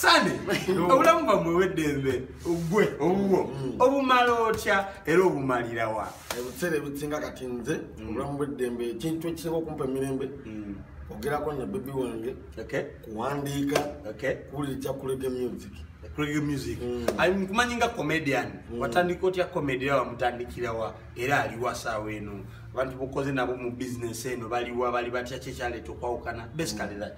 sande obulamu bwamwe weddembe ogwe owuwo mm. obumala otya era obumalirawa ebiseera ebisinga kati nze mm. obulamu bweddembe ekintu ekisinga okumpa emirembe mm. ogerako ne bebi wange kuwandiika kuwulira ekyakulege music kulege music nkumanyi nga comedian watandika otya comedy era wamutandikirawa era aliwasaawa eno abantu bokoze nabo mu bisiness eno baliwa bali batya kyekyaleeta okwawukana basically that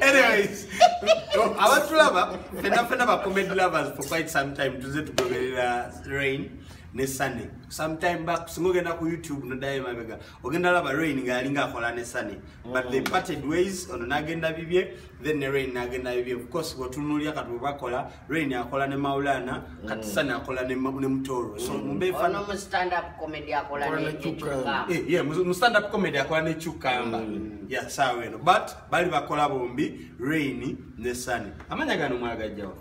anyways abatulaba fena fena ba comedy lovers for quite some time tuze tugoberera rain ne sunny sometime back singa ogenda ku youtube nodayo emabega ogenda laba rain ngaali ngaakola ne sunny but they mm. parted ways ono nagenda bibye then ne rain nagenda bibye of course wetunulya kati webakola Rain akola ne Maulana, mm. Katisana akola ne ne Mutoro. So mm. mumbe fa no stand up comedy akola ne Chukamba. Eh yeah, mu stand up comedy akola ne Chukamba. Mm. Yeah, sawa eno. But bali bakola bombi Rain ne Sunny. Amanya gano mwagajjawo.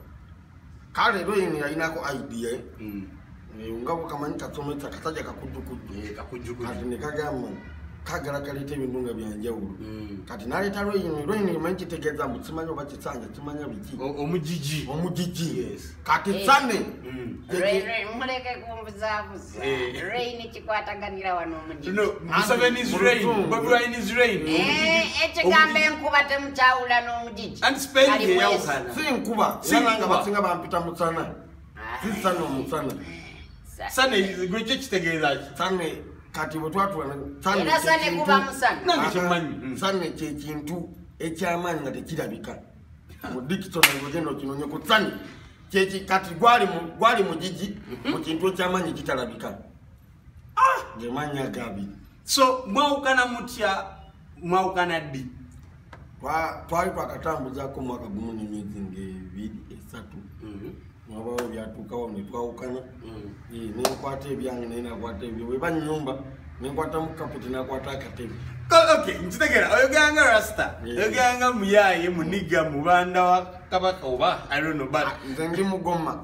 Kale Rain yalinako idea. Eh? Mm. Eh, nga bwekamanyi katometa kataja kakujukujju eh, kati nekagamba kagala kaleeta ebintu nga byanjawulo hmm. kati naleeta lweyini lweyini manyi kitegeeza mbu kimanya oba kisanja kimanya biki omugigi omugigi kati eh. sane hmm. muleke kumbuzabuza rain kikwataganira wano omugigiekigamba enkuba temukyawula n'omugigi si nkuba sinanga basinga bampita musana sisana omusana sana ekyo kitegeeza ki sana kati bwetwatula sana kyekintu ekyamaanyi nga tekirabika mu dictionary ogenda okinonye ku sana kati gwali mugigi mu kintu ekyamaanyi kitalabika ah! ngemanya gabi so mwawukana mutya mwawukana ddi twali twakatambuzako mwaka gumu nemyezi ngebiri esatu mhm. nabawo byatuukawo netwawukana mhm. eh, nenkwata ebyange naye nakwata ebyo weba nyumba nenkwata mukapeti nakwata akatebe nkitegera oyogeranga rasta eh. oyogeranga muyaye muniga mubanda wa kabaka oba irono but ah, nze ndi mugoma